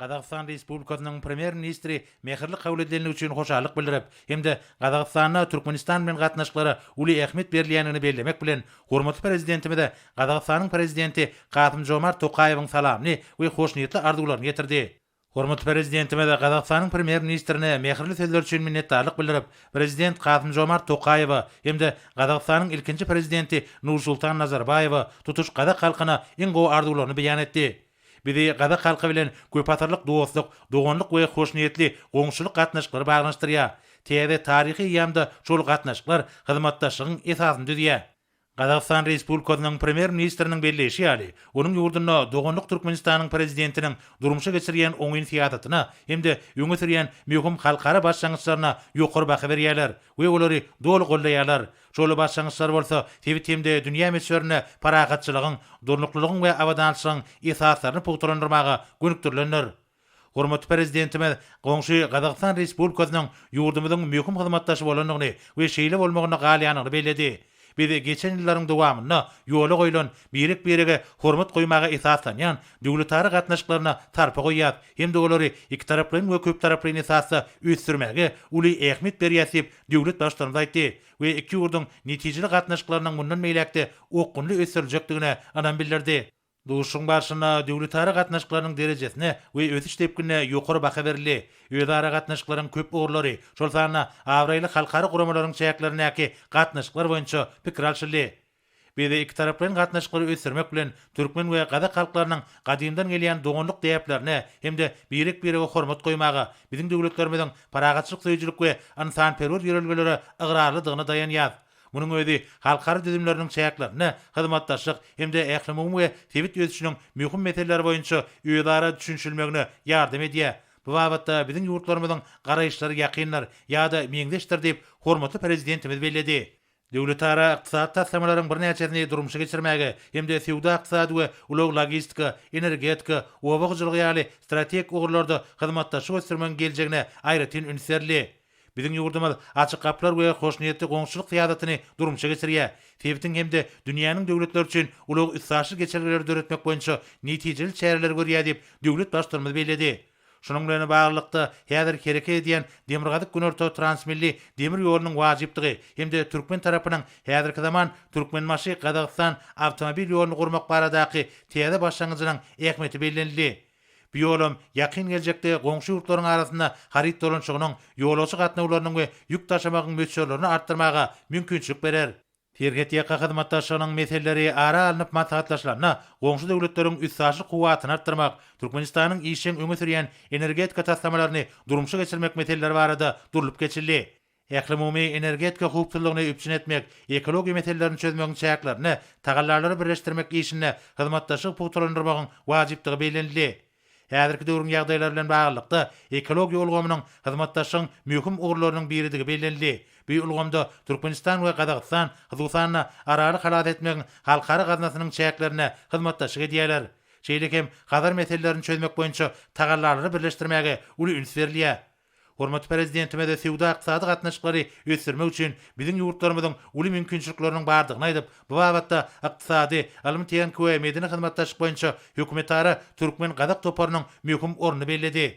Gazagystan Respublikasynyň Premýer-ministri mähirli kabul edilendigi üçin hoşallyk bildirip hem-de Gazagystanda Türkmenistan bilen gatnaşyklara uly ähmiýet berilýändigini bellemek bilen, hormatly Prezidentimize Gazagystanyň Prezidenti Kasym-Žomart Tokaýewiň salamyny we hoşniýetli arzuwlaryny ýetirdi. Hormatly Prezidentimiz Gazagystanyň Premýer-ministrine mähirli sözleri üçin minnetdarlyk bildirip, Prezident Kasym-Žomart Tokaýewe hem-de Gazagystanyň ilkinji Prezidenti Nursultan Nazarbaýewe, tutuş gazak halkyna iň gowy arzuwlaryny beýan etdi. Bizi gazak halky bilen köpasyrlyk dostluk, doganlyk we hoşniýetli goňşuçylyk gatnaşyklary baglanyşdyrýar. Täze taryhy eýýamda şol gatnaşyklar hyzmatdaşlygyň esasyny düzýär. Gazagystan Respublikasynyň Premýer-ministriniň belleýşi ýaly, onuň ýurdunda doganlyk Türkmenistanyň Prezidentiniň durmuşa geçirýän oňyn syýasatyna hem-de öňe sürýän möhüm halkara başlangyçlaryna ýokary baha berýärler we olary doly goldaýarlar, Şol başlangyçlar bolsa sebit hem-de dünýä möçberinde parahatçylygyň, durnuklylygyň we abadançylygyň esaslaryny pugtalandyrmaga gönükdirilendir. Hormatly Prezidentimiz goňşy Gazagystan Respublikasynyň ýurdumyzyň möhüm hyzmatdaşy bolandygyny we şeýle bolmagynda galýandygyny belledi. Biz geçen ýyllaryň dowamynda ýola goýlan birek-birege hormat goýmaga esaslanýan döwletara gatnaşyklaryna sarpa goýýas hem-de olary ikitaraplaýyn we köptaraplaýyn esasda ösdürmäge uly ähmiýet berýäs diýip, Döwlet Baştutanymyz aýtdy we iki ýurduň netijeli gatnaşyklarynyň mundan beýläk-de okgunly ösdüriljekdigine ynam bildirdi. Duşuşygyň barşynda döwletara gatnaşyklarynyň derejesine we ösüş depginine ýokary baha berildi. Özara gatnaşyklaryň köp ugurlary, şol sanda abraýly halkara guramalaryň çäklerindäki gatnaşyklar boýunça pikir alşyldy. Biz ikitaraplaýyn gatnaşyklary ösdürmek bilen, türkmen we gazak halklarynyň gadymdan gelýän doganlyk däplerine hem-de birek-birege hormat goýmaga, biziň döwletlerimiziň parahatçylyk söýüjilik we ynsanperwer ýörelgelere ygrarlydygyna daýanýas. Munuň özi halkara düzümleriniň çäklerinde hyzmatdaşlyk hem-de ählumumy we sebit ösüşiniň möhüm meseleleri boýunça özara düşünişilmegine ýardam edýär. Bu babatda biziň ýurtlarymyzyň garaýyşlary ýakyndyr ýa-da meňzeşdir diýip, hormatly Prezidentimiz belledi. Döwletara ykdysady taslamalaryň birnäçesini durmuşa geçirmäge hem-de söwda-ykdysady we ulag-logistika, energetika, oba hojalygy ýaly strategik ugurlarda hyzmatdaşlyk ösdürmegiň geljegine aýratyn üns berildi. Biziň ýurdumyz açyk gapylar we hoşniýetli goňşuçylyk syýasatyny durmuşa geçirýär, sebitiň hem-de dünýäniň döwletleri üçin ulag-üstaşyr geçelgeleri döretmek boýunça netijeli çäreleri görýär diýip, döwlet Baştutanymyz belledi. Şunuň bilen baglylykda, häzir hereket edýän Demirgazyk-Günorta transmilli demir ýolunyň wajypdygy hem-de türkmen tarapynyň häzirki zaman Türkmenbaşy, Gazagystan awtomobil ýoluny gurmak baradaky täze başlangyjynyň ähmiýeti bellenildi. Bu ýolam ýakyn geljekde goňşy ýurtlaryň arasynda haryt dolanyşygynyň, ýolagçy gatnawlarynyň we ýük daşamagyň möçberlerini artdyrmaga mümkinçilik berer. Serhetýaka hyzmatdaşlygynyň meseleleri ara alnyp maslahatlaşylanda, goňşy döwletleriň üstaşyr kuwwatyny artdyrmak, Türkmenistanyň işjeň öňe sürýän energetika taslamalaryny durmuşa geçirmek meseleleri barada durlup geçildi. Ählumumy energetika howpsuzlygyny üpjün etmek, ekologiýa meselelerini çözmegiň çäklerinde tagallalary birleşdirmek işinde hyzmatdaşlygy pugtalandyrmagyň wajypdygy bellenildi. Häzirki döwrüň ýagdaýlary bilen baglylykda, ekologiýa ulgamynyň hyzmatdaşlygyň möhüm ugurlarynyň biridigi bellenildi. Bu ulgamda Türkmenistan we Gazagystan, hususan-da, Araly halas etmegiň halkara gaznasynyň çäklerinde hyzmatdaşlyk edýärler. Şeýle hem Hazar meselelerini çözmek boýunça tagallalary birleşdirmäge uly üns berilýär. Hormatly Prezidentimiz söwda-ykdysady gatnaşyklary ösdürmek üçin biziň ýurtlarymyzyň uly mümkinçilikleriniň bardygyny aýdyp, bu babatda Ykdysady, ylmy-tehniki we medeni hyzmatdaşlyk boýunça hökümetara türkmen-gazak toparynyň möhüm ornuny belledi.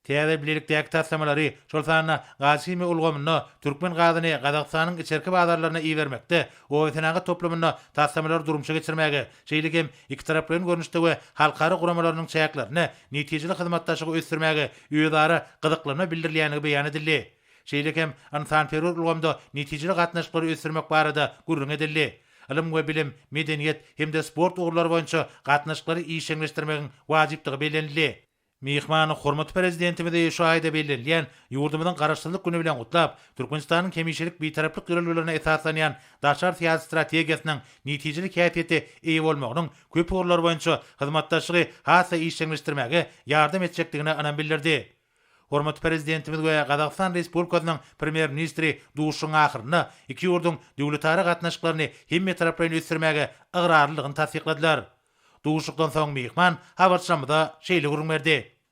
Täze bilelikdäki taslamalary, şol sanda gazhimiýa ulgamynda türkmen gazyny Gazagystanyň içerki bazarlaryna ibermekde, obasenagat toplumynda taslamalary durmuşa geçirmäge, şeýle hem ikitaraplaýyn görnüşde we halkara guramalarynyň çäklerinde netijeli hyzmatdaşlygy ösdürmäge özara gyzyklanma bildirilýändigi beýan edildi. Şeýle hem ynsanperwer ulgamda netijeli gatnaşyklary ösdürmek barada gürrüň edildi. Ylym we bilim, medeniýet hem-de sport ugurlary boýunça gatnaşyklary işjeňleşdirmegiň wajypdygy bellenildi. Myhman hormatly Prezidentimizi şu aýda bellenilýän ýurdumyzyň Garaşsyzlyk güni bilen gutlap, Türkmenistanyň hemişelik Bitaraplyk ýörelgelerine esaslanýan daşary syýasy strategiýasynyň netijeli häsiýete eýe bolmagynyň köp ugurlar boýunça hyzmatdaşlygy has-da işjeňleşdirmäge ýardam etjekdigine ynam bildirdi. Hormatly Prezidentimiz we Gazagystan Respublikasynyň Premýer-ministri duşuşygyň ahyrynda iki ýurduň döwletara gatnaşyklaryny hemmetaraplaýyn ösdürmäge ygrarlydygyny tassykladylar. Duşuşykdan soň myhman habarçymyza şeýle gürrüň berdi.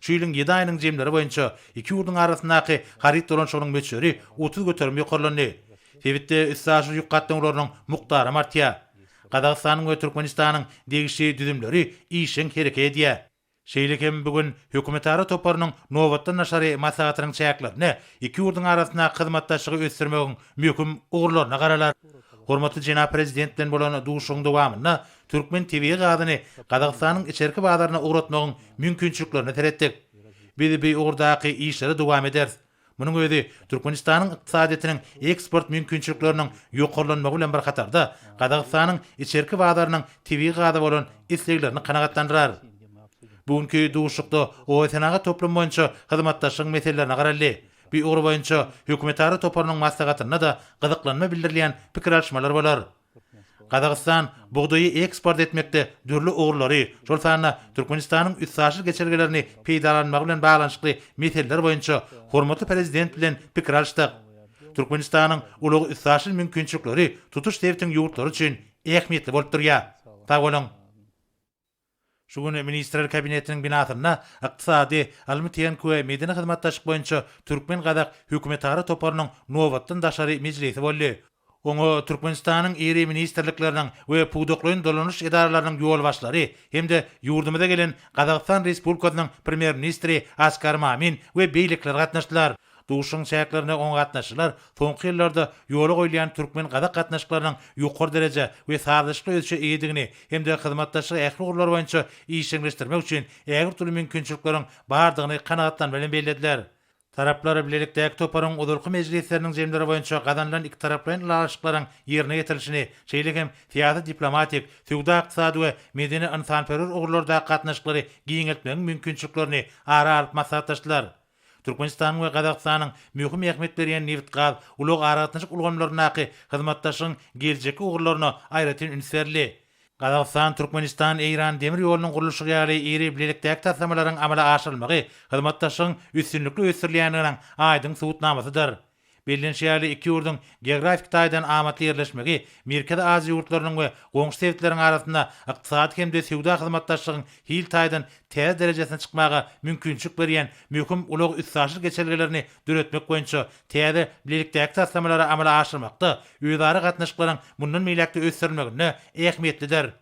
Şu ýylyň ýedi aýynyň jemleri boýunça iki ýurduň arasyndaky haryt dolanyşygynyň möçberi otuz göterim ýokarlandy. Sebitde üstaşyr ýük gatnawlarynyň mukdaram artýar. Gazagystanyň we Türkmenistanyň degişli düzümleri işjeň hereke edýär. Şeýle hem bu gün Hökümetara toparynyň nobatdan daşary maslahatynyň çäklerinde iki ýurduň arasyndaky hyzmatdaşlygy ösdürmegiň möhüm ugurlaryna garalar. Hormatly jenap Prezident bilen bolan duşuşygyň dowamynda Türkmen tebigy gazyny Gazagystanyň içerki bazaryna ugratmagyň mümkinçiliklerine seretdik. Biz bu ugurdaky işleri dowam ederis. Munuň özi Türkmenistanyň ykdysadyýetiniň eksport mümkinçilikleriniň ýokarlanmagy bilen bir hatarda, Gazagystanyň içerki bazarynyň tebigy gaza bolan isleglerini kanagatlandyrar. Bu günki duşuşykda oýsenagat toplumy boýunça hyzmatdaşlygyň meselelerine garaldy. Bu ugur boýunça hökümetara toparynyň maslahatynda-da gyzyklanma bildirilýän pikir alyşmalar bolar. Gazagystan bugdaýy eksport etmekde dürli ugurlary, şol sanda Türkmenistanyň üstaşyr geçelgelerini peýdalanmagy bilen baglanyşykly meseleler boýunça hormatly Prezident bilen pikir alyşdyk. Türkmenistanyň ulag-üstaşyr mümkinçilikleri tutuş sebitiň ýurtlary üçin ähmiýetli bolup durýar. Sag boluň! Şu gün Ministrler Kabinetiniň binasynda Ykdysady, ylmy-tehniki we medeni hyzmatdaşlyk boýunça türkmen-gazak hökümetara toparynyň nobatdan daşary mejlisi boldy. Oňa Türkmenistanyň iri ministrlikleriniň we pudaklaýyn dolanyş edaralarynyň ýolbaşçylary hem-de ýurdumyza gelen Gazagystan Respublikasynyň Premýer-ministri Askar Mamin we beýlekiler gatnaşdylar. Duşuşygyň çäklerinde oňa gatnaşyjylar soňky ýyllarda ýola goýulýan türkmen-gazak gatnaşyklarynyň ýokary derejä we sazlaşykly ösüşe eýedigini hem-de hyzmatdaşlygy ähli ugurlar boýunça işjeňleşdirmek üçin ägirt uly mümkinçilikleriň bardygyny kanagatlanma bilen bellediler. Taraplar bilelikdäki toparyň ozalky mejlisleriniň jemleri boýunça gazanylan ikitaraplaýyn ylalaşyklaryň ýerine ýetirilişini, şeýle hem syýasy-diplomatik, söwda-ykdysady we medeni-ynsanperwer ugurlardaky gatnaşyklary giňeltmegiň mümkinçiliklerini ara alyp maslahatlaşdylar. Türkmenistanyň we Gazagystanyň möhüm ähmiýet berýän nebit-gaz, ulag-aragatnaşyk ulgamlaryndaky hyzmatdaşlygyň geljekki ugurlaryna aýratyn üns berildi. Gazagystan, Türkmenistan, Eýran demir ýolunyň gurluşygy ýaly iri bilelikdäki taslamalaryň amala aşyrylmagy hyzmatdaşlygyň üstünlikli ösdürilýändiginiň aýdyň subutnamasydyr. Bellenişi ýaly, iki ýurduň geografik taýdan amatly ýerleşmegi Merkezi Aziýa ýurtlarynyň we goňşy sebitleriň arasynda ykdysady hem-de söwda hyzmatdaşlygyň hil taýdan täze derejesine çykmaga mümkinçilik berýän möhüm ulag-üstaşyr geçelgelerini döretmek boýunça täze bilelikdäki taslamalary amala aşyrmakda özara gatnaşyklaryň mundan beýläk-de ösdürilmeginde ähmiýetlidir.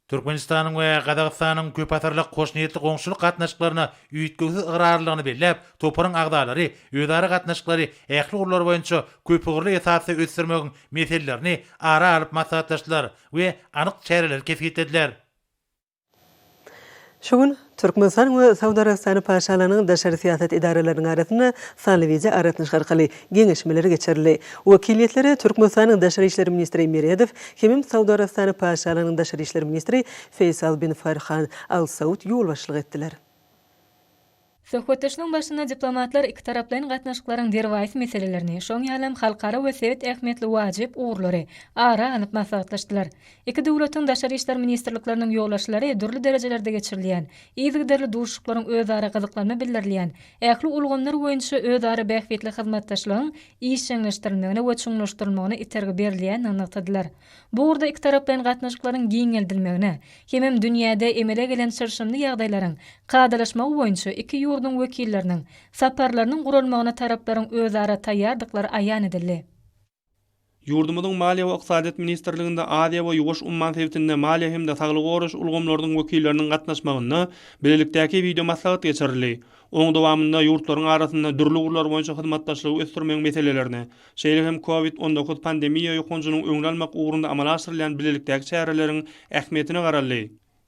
Türkmenistanyň we Gazagystanyň köpasyrlyk hoşniýetli goňşulyk gatnaşyklaryna üýtgewsiz ygrarlylygyny belläp, toparyň agzalary özara gatnaşyklary ähli ugurlar boýunça köpugurly esasda ösdürmegiň meselelerini ara alyp maslahatlaşdylar we anyk çäreleri kesgitlediler. Şu gün Türkmenistan we Saud Arabystany Paşalarynyň daşary syýasat edaralarynyň arasynda sanly wideo aragatnaşyk arkaly geňeşmeler geçirildi. Wekiliýetlere Türkmenistanyň Daşary işler ministri Meredow hemem Saud Arabystany Paşalarynyň daşary işler ministri Feýsal bin Farhan Al Saud ýolbaşçylyk etdiler. Söhbetdeşligiň başynda diplomatlar ikitaraplaýyn gatnaşyklaryň derwaýys meselelerini, şoň ýaly hem halkara we sebit ähmiýetli wajyp ugurlary ara alnyp maslahatlaşdylar. Iki döwletiň Daşary işler ministrlikleriniň ýolbaşçylary dürli derejelerde geçirilýän, yzygiderli duşuşyklaryň özara gyzyklanma bildirilýän ähli ulgamlar boýunça özara bähbitli hyzmatdaşlygyň işjeňleşdirilmegine we çuňlaşdyrylmagyna itergi berilýändigini nygtadylar. Bu ugurda ikitaraplaýyn gatnaşyklaryň giňeldilmegine hemem dünýäde emele gelen çylşyrymly ýagdaýlaryň kadalaşmagy boýunça iki ýurduň wekilleriniň saparlarynyň guralmagyna taraplaryň özara taýýardyklary aýan edildi. Ýurdumyzyň Maliýe we ykdysadyýet ministrliginde Aziýa we Ýuwaş umman sebitinde maliýe hem-de saglygy goraýyş ulgamlarynyň wekilleriniň gatnaşmagynda bilelikdäki wideomaslahat geçirildi. Onuň dowamynda ýurtlaryň arasynda dürli ugurlar boýunça hyzmatdaşlygy ösdürmegiň meselelerine, şeýle hem COVID on dokuz pandemiýa ýokanjynyň öňüni almak ugrunda amala aşyrylýan bilelikdäki çäreleriň ähmiýetine garaldy.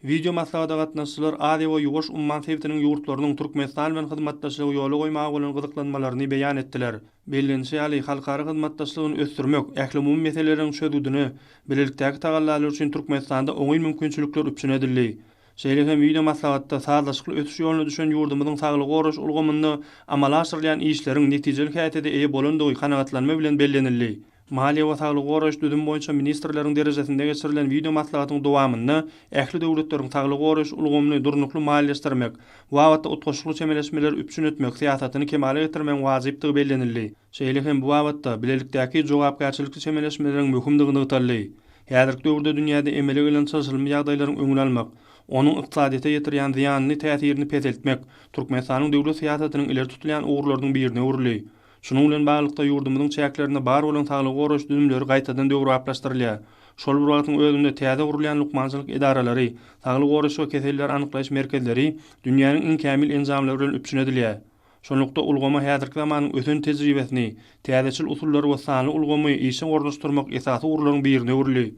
Wideo maslahata gatnaşyjylar Aziýa we Ýuwaş umman sebitiniň ýurtlarynyň Türkmenistan bilen hyzmatdaşlygy ýola goýmaga bolan gyzyklanmalaryny beýan etdiler. Bellenişi ýaly, halkara hyzmatdaşlygyny ösdürmek, ählumumy meseleleriň çözgüdine bilelikdäki tagallalar üçin Türkmenistanda oňyn mümkinçilikler üpjün edildi. Şeýle hem wideo maslahatda sazlaşykly ösüş ýoluna düşen ýurdumyzyň saglygy goraýyş ulgamynda amala aşyrylýan işleriň netijeli häsiýete eýe bolandygy kanagatlanma bilen bellenildi. Maliýe we saglygy goraýyş düzümi boýunça ministrleriň derejesinde geçirilen wideomaslahatyň dowamynda ähli döwletleriň saglygy goraýyş ulgamyny durnukly maliýeleşdirmek babatda utgaşykly çemeleşmeleri üpjün etmek syýasatyny kemala getirmegiň wajypdygy bellenildi. Şeýle hem bu babatda bilelikdäki jogapkärçilikli çemeleşmeleriň möhümdigi nygtaldy. Häzirki döwürde dünýäde emele gelen çylşyrymly ýagdaýlaryň öňüni almak, onuň ykdysadyýete ýetirýän zyýanly täsirini peseltmek Türkmenistanyň döwlet syýasatynyň ileri tutulýan ugurlarynyň birine öwrüldi. Şunuň bilen baglylykda, ýurdumyzyň çäklerinde bar bolan saglygy goraýyş düzümleri gaýtadan döwrebaplaşdyrylýar. Şol bir wagtyň özünde täze gurulýan lukmançylyk edaralary, saglygy goraýyş we keselleri anyklaýyş merkezleri dünýäniň iň kämil enjamlary bilen üpjün edilýär. Şunlukda, ulgama häzirki zamanyň ösen tejribesini, täzeçil usullary we sanly ulgamy işe ornaşdyrmak esasy ugurlaryň birine öwrüldi.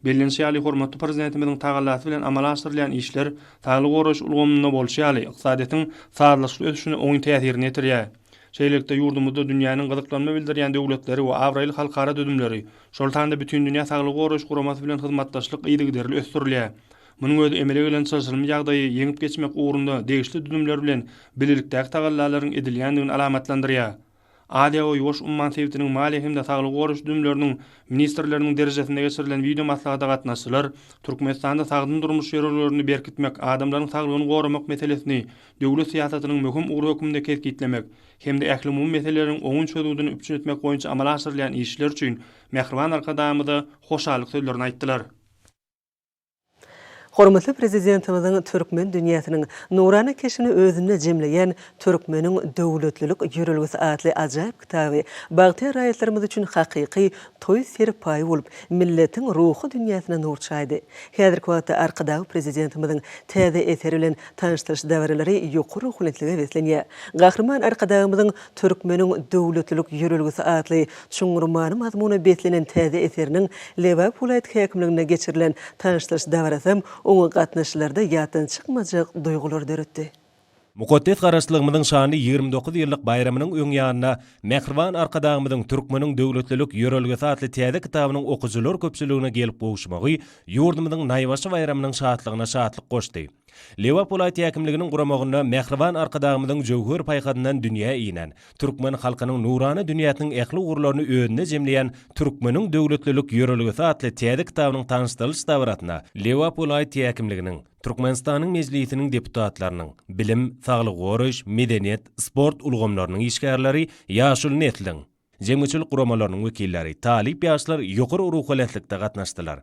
Bellenişi ýaly, hormatly Prezidentimiziň tagallasy bilen amala aşyrylýan işler saglygy goraýyş ulgamynda bolşy ýaly, ykdysadyýetiň sazlaşykly ösüşine oňyn täsirini ýetirýär. Şeýlelikde, ýurdumyzda dünýäniň gyzyklanma bildirýän döwletleri we abraýly halkara düzümleri, şol sanda Bütindünýä saglygy goraýyş guramasy bilen hyzmatdaşlyk yzygiderli ösdürilýär. Munuň özi emele gelen çylşyrymly ýagdaýy ýeňip geçmek ugrunda degişli düzümler bilen bilelikdäki tagallalaryň edilýändigini alamatlandyrýar. Aziýa we Ýuwaş umman sebitiniň maliýe hem-de saglygy goraýyş düzümleriniň ministrleriniň derejesinde geçirilen wideo maslahata gatnaşyjylar Türkmenistanda sagdyn durmuş ýörelgelerini berkitmek, adamlaryň saglygyny goramak meselesini döwlet syýasatynyň möhüm ugry hökmünde kesgitlemek hem-de ählumumy meseleleriň oňyn çözgüdini üpjün etmek boýunça amala aşyrylýan işler üçin Mähriban Arkadagymyza hoşallyk sözlerini aýtdylar. Hormatly Prezidentimiziň türkmen dünýäsiniň nurana keşbini özünde jemleýän Türkmeniň döwletlilik ýörelgesi atly ajaýyp kitaby bagtyýar raýatlarymyz üçin hakyky toý serpaýy bolup, milletiň ruhy dünýäsine nur çaýdy. Häzirki wagtda Arkadagly Prezidentimiziň täze eseri bilen tanyşdyryş dabaralary ýokary ruhubelentlige beslenýär. Gahryman Arkadagymyzyň Türkmeniň döwletlilik ýörelgesi atly Çuňňur many-mazmuna beslenen täze eseriniň Lebap welaýat häkimliginde geçirilen tanyşdyryş dabarasam oňa gatnaşyjylarda ýatdan çykmajak duýgular döretdi. Mukaddes Garaşlygymyzyň şanly ýigrimi dokuz ýyllyk baýramynyň öň ýanynda Mähriban Arkadagymyzyň Türkmeniň döwletlilik ýörelgesi atly täze kitabynyň okyjylar köpçüligine gelip gowuşmagy ýurdumyzyň naýbaşy baýramynyň şatlygyna şatlyk goşdy. Lebap welaýat häkimliginiň guramagynda mähriban Arkadagymyzyň jöwher paýhasyndan dünýä inen, türkmen halkynyň nurana dünýäsiniň ähli ugurlaryny özünde jemleýän Türkmeniň döwletlilik ýörelgesi atly täze kitabynyň tanyşdyrylyş dabarasyna Lebap welaýat häkimliginiň, Türkmenistanyň Mejlisiniň deputatlarynyň, bilim, saglygy goraýyş, medeniýet, sport ulgamlarynyň işgärleri, ýaşuly nesliň, jemgyýetçilik guramalarynyň wekilleri, talyp ýaşlar ýokary ruhubelentlikde gatnaşdylar.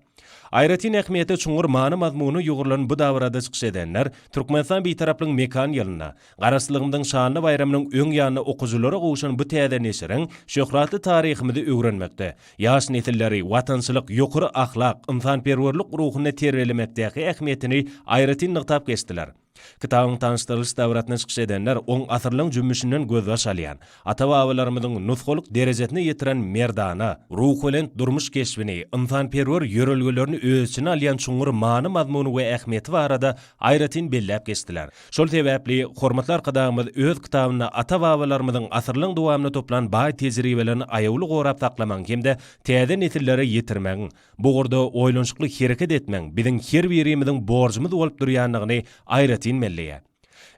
Aýratyn ähmiýete çuňňur many-mazmuny ýugrulan bu dabarada çykyş edenler Türkmenistan Bitaraplygyň mekan ýylynda, Garaşsyzlygymyzyň şanly baýramynyň öň ýanynda okyjylara gowşan bu täze neşiriň şöhratly taryhymyzy öwrenmekde, ýaş nesilleri watançylyk, ýokary ahlak, ynsanperwerlik ruhunda terbiýelemekdäki ähmiýetini aýratyn nygtap geçdiler. Kitabyň tanyşdyrylyş dabarasynda çykyş edenler on asyrlaryň jümmüşinden gözbaş alýan, ata-babalarymyzyň nusgalyk derejesine ýetiren merdana, ruhubelent durmuş keşbini, ynsanperwer ýörelgelerini öz içine alýan çuňňur many-mazmuny we ähmiýeti barada aýratyn belläp geçdiler. Şol sebäpli hormatly Arkadagymyz öz kitabynda ata-babalarymyzyň asyrlaryň dowamynda toplan baý tejribelerini aýawly gorap saklamagyň hem-de täze nesillere ýetirmegiň, Bu ugurda oýlanyşykly hereket etmegiň biziň her birimiziň borjumyz bolup durýandygyny aýratyn belleýär.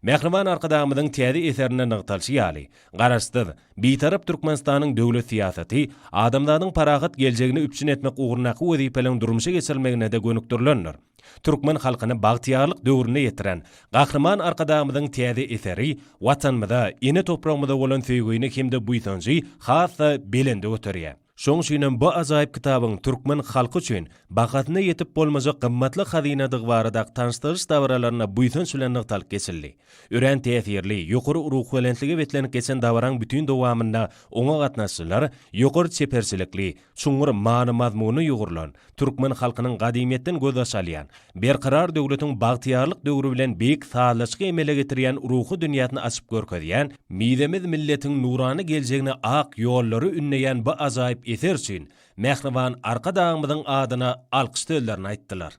Mähriban Arkadagymyzyň täze eserinde nygtalyşy ýaly, Garaşsyz, Bitarap Türkmenistanyň döwlet syýasaty adamzadyň parahat geljegini üpjün etmek ugrundaky wezipeleriň durmuşa geçirilmegine-de gönükdirilendir. Türkmen halkyny bagtyýarlyk döwrüne ýetiren Gahryman Arkadagymyzyň täze eseri Watanymyza, ene topragymyza bolan söýgini hem-de buýsanjy has-da belende göterýär. Şoň üçinem bu ajaýyp kitabyň türkmen halky üçin bahasyna ýetip bolmajak gymmatly hazynadygy barada tanyşdyryş dabaralarynda buýsanç bilen nygtalyp geçildi. Örän täsirli, ýokary ruhubelentlige beslenip geçen dabaraň bütin dowamynda oňa gatnaşyjylar ýokary çeperçilikli, çuňňur many-mazmuna ýugrulan, Türkmen halkynyň gadymyýetden gözbaş alýan, Berkarar döwletiň bagtyýarlyk döwri bilen beýik sazlaşygy emele getirýän ruhy dünýäsini açyp görkezýän, mizemez milletiň nurana geljegine ak ýollary ündeýän bu ajaýyp eser üçin Mähriban Arkadagymyzyň adyna alkyş sözlerini aýtdylar.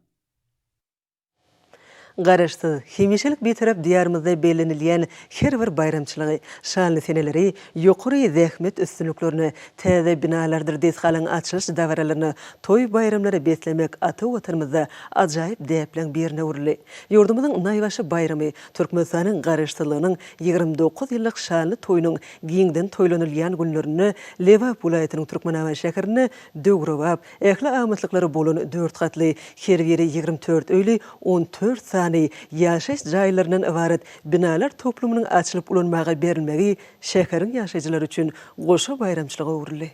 Garaşsyz, hemişelik Bitarap Diýarymyzda bellenilýän her bir baýramçylygy, şanly seneleri, ýokary zähmet üstünliklerini, täze binalardyr desgalaryň açylyş dabaralaryny, toý-baýramlary beslemek ata Watanymyzda ajaýyp däpleň birine öwrüldi. Ýurdumyzyň naýbaşy baýramy, Türkmenistanyň Garaşsyzlygynyň ýigrimi dokuz ýyllyk şanly toýunyň giňden toýlanylýan günlerinde Lebap welaýatynyň Türkmenabat şäherinde döwrebap, Ähli amatlyklary bolan dört gatly, her biri ýigrimi dört öýli, on dört sany ýaşaýyş jaýlaryndan ybarat binalar toplumynyň açylyp ulanmaga berilmegi şäheriň ýaşaýjylary üçin goşa baýramçylyga öwrüldi.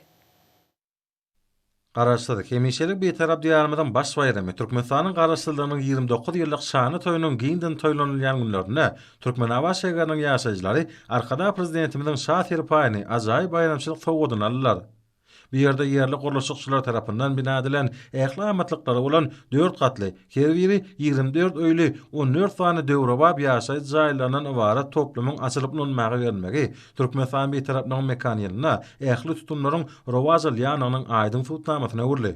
Garaşsyz, hemişelik Bitarap Diýarymyzyň baş baýramy, Türkmenistanyň Garaşsyzlygynyň ýigrimi dokuz ýyllyk şanly toýunyň giňden toýlanylýan günlerinde Türkmenabat şägeriniň ýaşaýjylary Arkadag Prezidentimiziň Şa serpaýyny, ajaýyp baýramçylyk sowgadyny aldylar. Bu ýerde ýerli gurluşykçylar tarapyndan bina edilen ähli amatlyklary bolan dört gatly, her biri ýigrimi dört öýli, on dört sany döwrebap ýaşaýyş jaýlaryndan ybarat toplumyň açylyp ulanmaga berilmegi Türkmenistan Bitaraplygynyň mekan ýylynda ähli tutumlaryň rowaj alýandygynyň aýdyň subutnamasyna öwrüldi.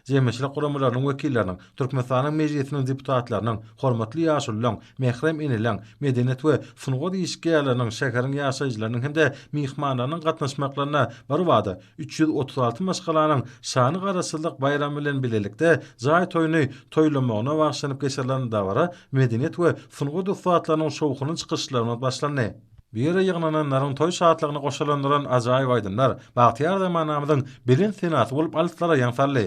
jemgyýetçilik guramalarynyň wekilleriniň, Türkmenistanyň Mejlisiniň deputatlarynyň, hormatly ýaşulularyň, mährem eneleriň, medeniýet we sungat işgärleriniň, şäheriň ýaşaýjylarynyň hem-de myhmanlarynyň gatnaşmaklarynda birbada üç ýüz otuz alty maşgalanyň şany Garaşsyzlyk baýramy bilen bilelikde jaý toýuny toýlamagyna bagyşlanyp geçirilen dabara medeniýet we sungat ussatlarynyň şowhunly çykyşlary bilen başlandy. Bu ýere ýygnananlaryň toý şatlygyny goşalandyran ajaýyp aýdymlar bagtyýar zamanamyzyň belent senasy bolup alyslara ýaň saldy.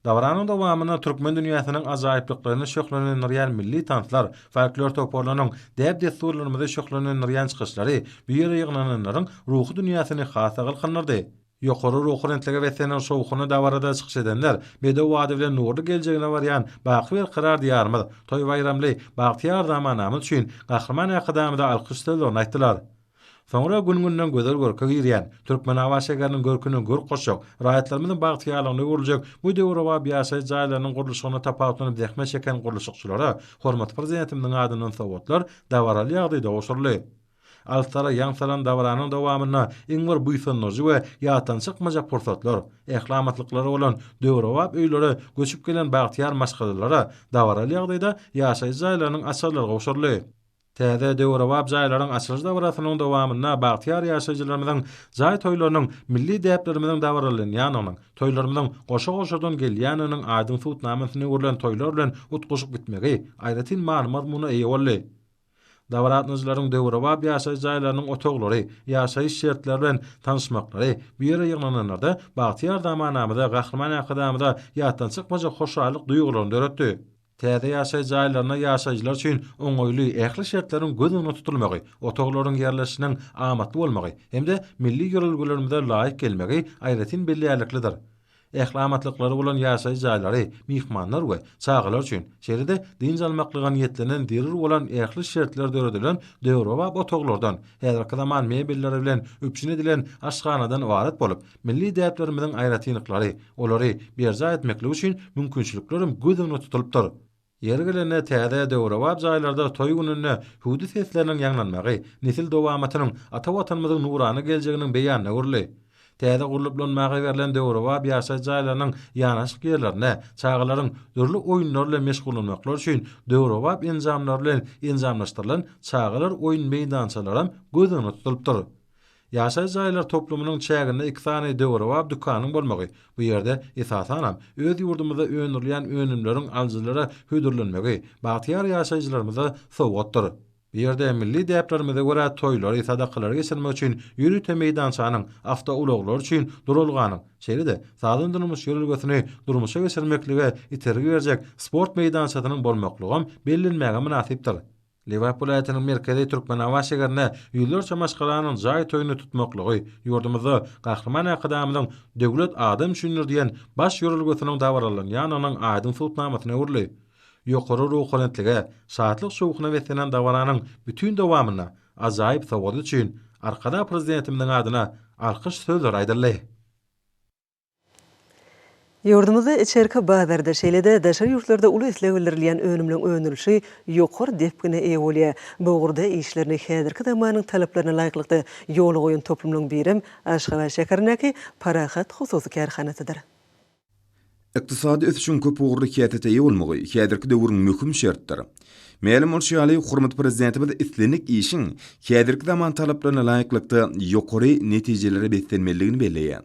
Dabaranyň dowamynda türkmen dünýäsiniň ajaýyplyklaryny şöhlelendirýän milli tanslar, folklor toparlarynyň däp-dessurlarymyzy şöhlelendirýän çykyşlary bu ýere ýygnananlaryň ruhy dünýäsini has-da galkyndyrdy. Ýokary ruhubelentlige beslenen şowhunly dabarada çykyş edenler bedew bady bilen nurly geljegine barýan baky berkarar Diýarymyz, toý-baýramly, bagtyýar zamanamyz üçin Gahryman Arkadagymyza alkyş sözlerini aýtdylar. Soňra gün-günden gözel görke girýän, Türkmenabat şäheriniň görküne görk goşjak, raýatlarymyzyň bagtyýarlygyna öwrüljek bu döwrebap ýaşaýyş jaýlarynyň gurluşygyna tapawutlanyp zähmet çeken gurluşykçylara hormatly Prezidentimiziň adyndan sowgatlar dabaraly ýagdaýda gowşuryldy. Alstara ýaň salan dabaranyň dowamynda iň bir buýsandyryjy we ýatdan çykmajak pursatlar, ähliamatlyklary bolan döwrebap öýlere göçüp gelen bagtyýar maşgalalara dabaraly ýagdaýda ýaşaýjy jaýlarynyň açarlary gowşuryldy. Täze döwrebap jaýlaryň açylyş dabarasynyň dowamynda bagtyýar ýaşaýjylarymyzyň jaý toýlarynyň milli däplerimiziň dabaralanýandygynyň, toýlarymyzyň goşa-goşadan gelýändiginiň aýdyň subutnamasyny öwrülen toýlar bilen utgaşyp gitmegi aýratyn many-mazmuna eýe boldy. Dabaratnyjylaryň döwrebap ýaşaýyş jaýlarynyň otaglary, ýaşaýyş şertleri bilen tanyşmaklary, bu ýere ýygnananlarda bagtyýar zamanamyza, Gahryman Arkadagymyza ýatdan çykmajak hoşallyk duýgularyny döretdi. Täze ýaşaýyş jaýlarynda ýaşaýjylar üçin oňaýly ähli şertleriň göz öňünde tutulmagy, otaglaryň ýerleşişiniň amatly bolmagy hem-de milli ýörelgelerimize laýyk gelmegi aýratyn bellärliklidir. Ähli amatlyklary bolan ýaşaýyş jaýlary myhmanlar we çagalar üçin, şeýle-de dynç almaklyga niýetlenen zerur bolan ähli şertler döredilen döwrebap otaglardan, häzirki zaman mebelleri bilen üpjün edilen aşhanadan ybarat bolup, milli däplerimiziň aýratynlyklary, olary berjaý etmeklik üçin mümkinçiliklerem göz öňünde tutulypdyr. Ýeri gelende täze döwrebap jaýlarda toý gününde hüwdi sesleriniň ýaňlanmagy nesil dowamatynyň, ata Watanymyzyň nurana geljeginiň beýanyna öwrüldi. Täze gurlup ulanmaga berlen döwrebap ýaşaýyş jaýlarynyň ýanaşyk ýerlerinde çagalaryň dürli oýunlar bilen meşgullanmaklary üçin döwrebap enjamlar bilen enjamlaşdyrylan çagalar oýun meýdançalaram göz öňünde tutulypdyr. Ýaşaýyş jaýlar toplumynyň çäginde iki sany döwrebap dükanyň bolmagy, bu ýerde, esasanam, öz ýurdumyzda öndürilýän önümleriň alyjylara hödürlenmegi bagtyýar ýaşaýjylarymyza sowgatdyr. Bu ýerde milli däplerimize görä toýlary, sadakalary geçirmek üçin ýörite meýdançanyň, awtoulaglar üçin duralganyň, şeýle-de sagdyn-durmuş ýörelgesini durmuşa geçirmeklige itergi berjek sport meýdançasynyň bolmaklygam bellenmäge mynasypdyr. Lebap welaýatynyň merkezi Türkmenabat şäherinde ýüzlerçe maşgalanyň jaý toýuny tutmaklygy ýurdumyzda Gahryman Arkadagymyzyň Döwlet adam üçindir! diýen baş ýörelgesiniň dabaralanýandygynyň aýdyň subutnamasyna öwrüldi. Ýokary ruhubelentlige, şatlyk-şowhuna beslenen dabaranyň bütin dowamynda ajaýyp sowgady üçin Arkadag Prezidentimiziň adyna alkyş sözleri aýdyldy. Ýurdumyzda içerki bazarda, şeýle-de daşary ýurtlarda uly isleg bildirilýän önümleriň öndürilişi ýokary depgine eýe bolýar. Bu ugurda işlerini häzirki zamanyň talaplaryna laýyklykda ýola goýan toplumlaryň birem Aşgabat şäherindäki Parahat hususy kärhanasydyr. Ykdysady ösüşiň köp ugurly käsete eýe bolmagy häzirki döwrüň möhüm şertdir. Mälim bolşy ýaly, hormatly Prezidentimiz islendik işiň häzirki zaman talaplaryna laýyklykda ýokary netijelere beslenmelidigini belleýär.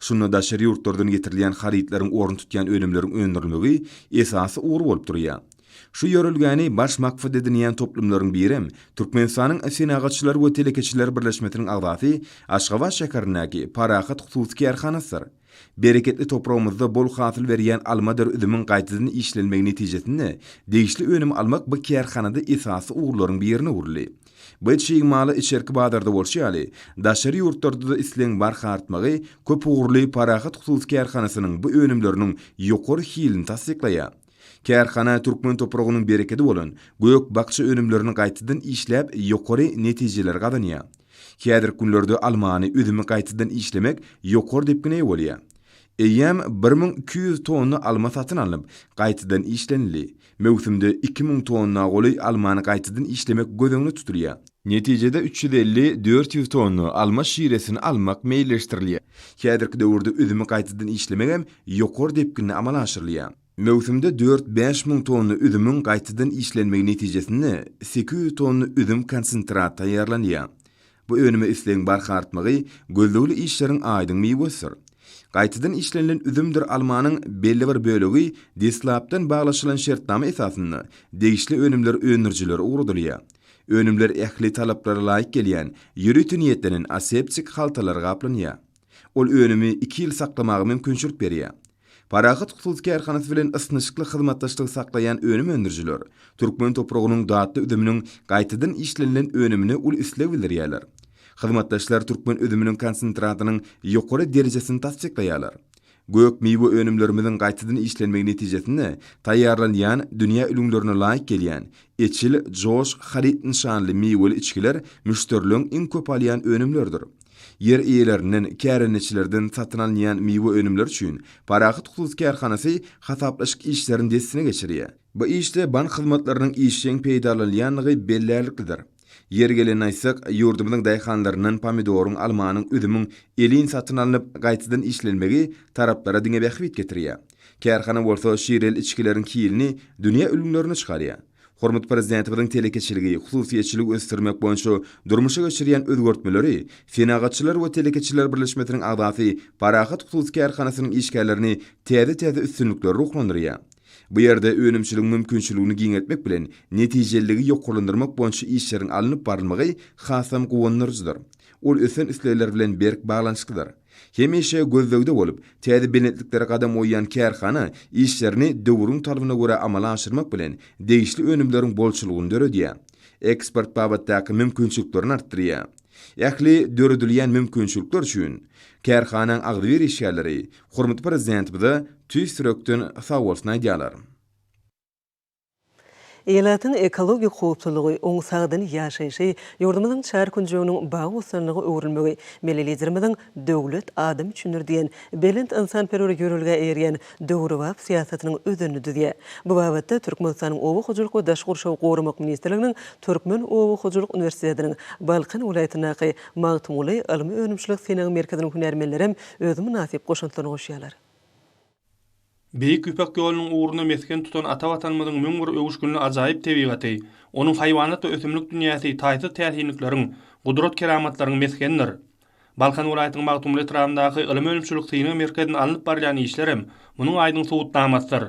Şunda daşary ýurtlardan getirilýän harytlaryň orun tutýan önümleriň öndürilmegi esasy ugur bolup durýar. Şu ýörelgäni baş maksat edinýän toplumlaryň birem Türkmenistanyň Senagatçylar we telekeçiler birleşmesiniň agzasy Aşgabat şäherindäki Parahat hususy kärhanasydyr. Bereketli topragymyzda bol hasyl berýän almadyr üzümiň gaýtadan işlenmegi netijesinde degişli önüm almak bu kärhanada esasy ugurlaryň birine öwrüldi. Biz çig maly içerki bazarda bolşy ýaly, daşary ýurtlarda-da islegiň barha artmagy köpugurly Parahat hususy kärhanasynyň bu önümleriniň ýokary hilini tassyklaýar. Kärhana türkmen topragynyň berekedi bolan gök-bakja önümlerini gaýtadan işläp, ýokary netijeleri gazanýar. Häzirki günlerde almany, üzümi gaýtadan işlemek ýokary depgine eýe bolýar. Eýýäm bir müň iki ýüz tonna alma satyn alnyp, gaýtadan işlenildi. Möwsümde iki müň tonna golaý almany gaýtadan işlemek göz öňünde tutulýar. Netijede üç ýüz elli, dört ýüz tonna alma şiresini almak meýilleşdirilýär. Häzirki döwürde üzümi gaýtadan işlemek hem ýokary depginde amala aşyrylýar. Möwsümde dört, bäş müň tonna üzümiň gaýtadan işlenmegi netijesinde sekiz ýüz tonna üzüm konsentraty taýýarlanýar. Bu önüme islegiň barha artmagy gözlegli işleriň aýdyň miwesidir. Gaýtadan işlenilen üzümdir almanyň belli bir bölegi deslapdan baglaşylan şertnama esasynda degişli önümler öndürijilere ugradylýar. Önümler ähli talaplara laýyk gelýän ýörite niýetlenen aseptik haltalara gaplanýar. Ol önümi iki ýyl saklamaga mümkinçilik berýär. Parahat hususy kärhanasy bilen ysnyşykly hyzmatdaşlygy saklaýan önüm öndürijiler türkmen topragynyň datly üzüminiň gaýtadan işlenilen önümine uly isleg bildirýärler. Hyzmatdaşlar türkmen üzüminiň konsentratynyň ýokary derejesini tassyklaýarlar. Gök miwe önümlerimiziň gaýtadan işlenmegi netijesinde taýýarlanýan dünýä ülňülerine laýyk gelýän Eçil, Joş, Haryt nyşanly miweli içgiler müşderileriň iň köp alýan önümleridir. Ýer eýelerinden, kärendeçilerden satyn alynýan miwe önümleri üçin Parahat hususy kärhanasy hasaplaşyk işlerini dessine geçirýär. Bu işde bank hyzmatlarynyň işjeň peýdalanylýandygy bellärliklidir. Ýeri gelende aýtsak, ýurdumyzyň daýhanlaryndan pomidoryň, almanyň, üzümiň elin satyn alnyp, gaýtadan işlenmegi taraplara diňe bähbit getirýär. Kärhana bolsa şireli içgileriň hilini dünýä ülňülerine çykarýar. Hormatly Prezidentimiziň telekeçiligi, hususyýetçiligi ösdürmek boýunça durmuşa geçirýän özgertmeleri Senagatçylar we telekeçiler birleşmesiniň agzasy Parahat hususy kärhanasynyň işgärlerini täze-täze üstünliklere ruhlandyrýar. Bu ýerde önümçiligiň mümkinçiligini giňeltmek bilen, netijeliligi ýokarlandyrmak boýunça işleriň alnyp barylmagy hasam guwandyryjydyr. Ol ösen islegler bilen berk baglanyşyklydyr. Hemişe gözlegde bolup, täze belentliklere gadam goýýan kärhana işlerini döwrüň talabyna görä amala aşyrmak bilen, degişli önümleriň bolçulygyny döredýär. Eksport babatdaky mümkinçiliklerini artdyrýar. Ähli döredilýän mümkinçilikler üçin kärhanaň agzybir işgärleri hormatly Prezidentimize tüýs ýürekden sagbolsun aýdýarlar. Ilatyň ekologik howpsuzlygy, oň sagdyn ýaşaýşy, ýurdumyzyň çar künjeginiň bagy-bossanlyga öwrülmegi Milli Liderimiziň Döwlet adam üçindir! diýen belent ynsanperwer ýörelgä eýerýän döwrebap syýasatynyň özenini düzýär. Bu babatda Türkmenistanyň Oba hojalyk we daşky gurşawy goramak ministrliginiň Türkmen oba hojalyk uniwersitetiniň Balkan welaýatyndaky Magtymguly ylmy-önümçilik-synag merkeziniň hünärmenlerem öz mynasyp goşantlaryny goşýarlar. Beýik Ýüpek ýolunyň ugrunda mesgen tutan ata Watanymyzyň müň bir öwüşginli ajaýyp tebigaty, onuň haýwanat we ösümlik dünýäsi taýsyz täsinlikleriň, gudrat-keramatlaryň mesgenidir. Balkan welaýatynyň Magtymguly etrabyndaky ylmy-önümçilik synag merkezinde alnyp barylýan işler hem munuň aýdyň subutnamasydyr.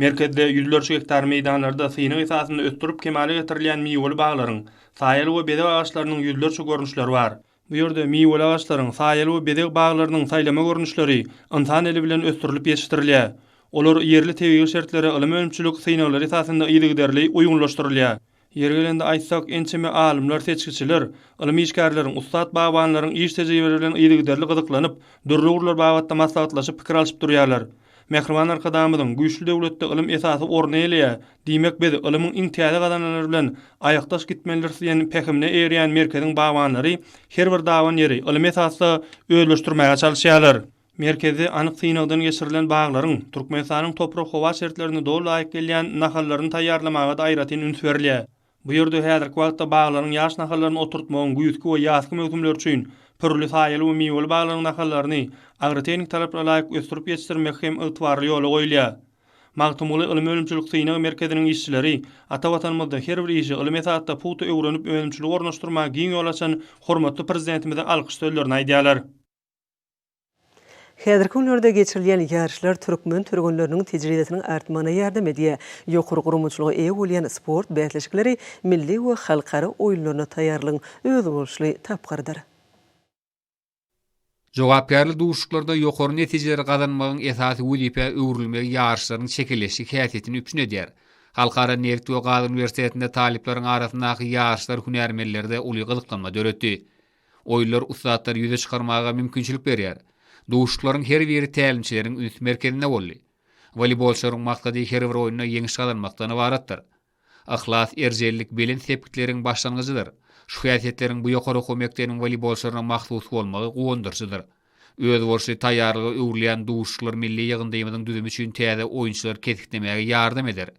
Merkezde ýüzlerçe gektar meýdanlarda synag esasynda ösdürip kemala getirilýän miweli baglaryň, saýaly we bezeg agaçlarynyň ýüzlerçe görnüşleri bar. Bu ýerde miweli agaçlaryň, saýaly we bezeg baglarynyň saýlama görnüşleri ynsan eli bilen ösdürilip ýetişdirilýär. Olar ýerli tebigy şertlere ylym-önümçilik synaglar esasynda yzygiderli uýgunlaşdyrylýar. Ýeri gelende aýtsak, ençeme alymlar, seçgiçiler, ylym işgärleriň, ussat bagbanlaryň iş tejribeleri bilen yzygiderli gyzyklanyp, dürli ugurlar babatda maslahatlaşyp, pikir alşyp durýarlar. Mähriban Arkadagymyzyň, Güýçli döwletde ylym esasy orny eýeleýär. Diýmek, biz ylymyň iň täze gazananlary bilen aýakdaş gitmelidiris diýen pähimine eýerýän merkeziň bagbanlary her bir daban ýeri ylmy esasda özleşdirmäge çalyşýarlar. Merkezde anyk synagdan geçirilen baglaryň, Türkmenistanyň toprak-howa şertlerine doly laýyk gelýän nahallaryny taýýarlamaga-da aýratyn üns berilýär. Bu ýerde häzirki wagtda baglaryň ýaş nahallaryny oturtmagyň güýzki we ýazky möwsümleri üçin pürli saýaly we miweli baglaryň nahallaryny agrotehniki talaplara laýyk ösdürip ýetişdirmek hem ygtybarly ýola goýulýar. Magtymguly ylym-önümçilik synag merkeziniň işçileri ata Watanymyzda her bir işi ylym esasda pugta öwrenip önümçiligi ornaşdyrmaga giň ýol açan hormatly Prezidentimize alkyş sözlerini aýdýarlar. Häzirki günlerde geçirilýän ýaryşlar türkmen türgenleriniň tejribesiniň artmagyna ýardam edýär, ýokary guramaçylyga eýe bolýan sport bäsleşikleri milli we halkara oýunlaryna taýýarlygyň özboluşly tapgyrydyr. Jogapkärli duşuşyklarda ýokary netijeleri gazanmagyň esasy wezipä öwrülmegi ýaryşlaryň çekeleşik häsiýetini üpjün edýär. Halkara nebit we gaz uniwersitetinde talyplaryň arasyndaky ýaryşlar hünärmenlerde uly gyzyklanma döretdi. Oýunlar ussatlary ýüze çykarmaga mümkinçilik berýär. Duşuşyklaryň her biri tälimçileriň üns merkezinde boldy. Woleýbolçylaryň maksady her bir oýunda ýeňiş gazanmakdan ybaratdyr. Yhlas, erjellik belent sepgitleriň başlangyjydyr. Şu häsiýetleriň bu ýokary okuw mekdebiniň woleýbolçylaryna mahsus bolmagy guwandyryjydyr. Özboluşly taýýarlyga öwrülýän duşuşyklar milli ýygyndymyzyň düzümi üçin täze oýunçylary kesiklemäge ýardam eder.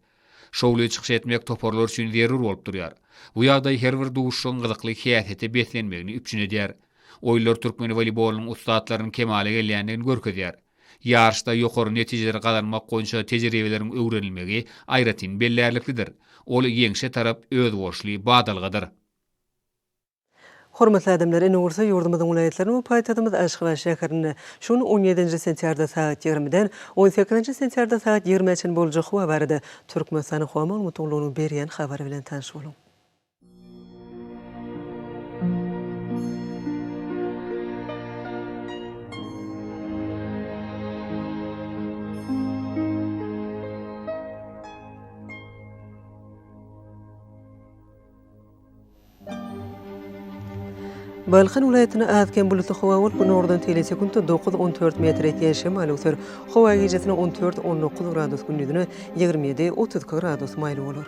Şowly çykyş etmek toparlar üçin zerur bolup durýar. Bu ýagdaý her bir duşuşygyň gyzykly häsiýete beslenmegini üpjün edýär. Oýunlar türkmen woleýbolynyň ussatlarynyň kemala gelýändigini görkezýär. Ýaryşda ýokary netijeleri gazanmak boýunça tejribeleriň öwrenilmegi aýratyn bellärliklidir. Ol ýeňşe tarap özboluşly badalgadyr. Hormatly adamlar, indi bolsa ýurdumyzyň welaýatlaryny we paýtagtymyz Aşgabat şäherinde şu gün on ýedinji sentýarda sagat ýigrimiden on sekizinji sentýarda sagat ýigrimä çenli boljak howa barada Türkmenistanyň Howa Maglumatlygynyň berýän habary bilen tanyş boluň. Balkan welaýatynda az-kem bulutly howa bolup, günordan seli sekuntda dokuz, on dört metr ýetýän şemal öwser. Howa gijesine on dört, on dokuz gradus, gündizine ýigrimi ýedi, otuz iki gradus maýyl bolar.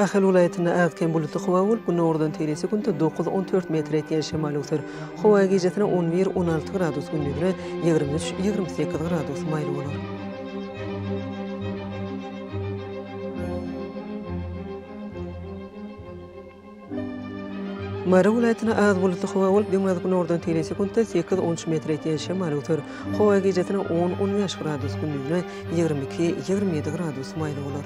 Ahal welaýatynda az-kem bulutly howa bolup, günordan teýle sekuntda dokuz, on dört metr ýetýän şemal öwser. Howa gijesine on bir, on alty gradus, gündizine ýigrimi üç, ýigrimi sekiz gradus maýyl bolar. Mary welaýatyna az bulutly howa bolup, günordan teýin sekuntda sekiz on üç metre ýetýän şemal öwser. Howa gijesine on on bäş gradus, gündizine ýigrimi iki ýigrimi ýedi gradus maýyl bolar.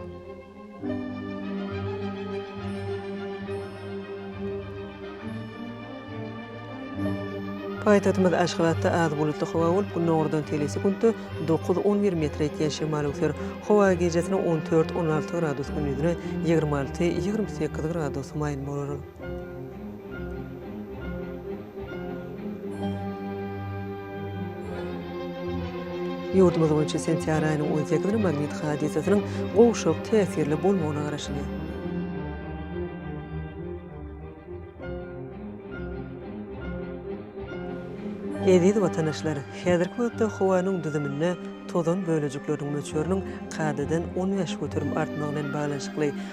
Paýtagtymyz Aşgabatda az bulutly howa bolup, günordan telisi-gündüz dokuz, on bir metr ýetýän şemal öwser. Howa gijesine on dört, on alty gradus, gündizine ýigrimi alty, ýigrimi sekiz gradus maýyl bolar. Ýurdumyz boýunça sentýar aýynyň on sekizini magnit hadysasynyň gowşak täsirli bolmagyna garaşylýar. Eziz watandaşlar, häzirki wagtda howanyň düzüminde tozan bölejikleriniň möçberiniň kadadan on bäş göterim artmagy bilen baglanyşykly,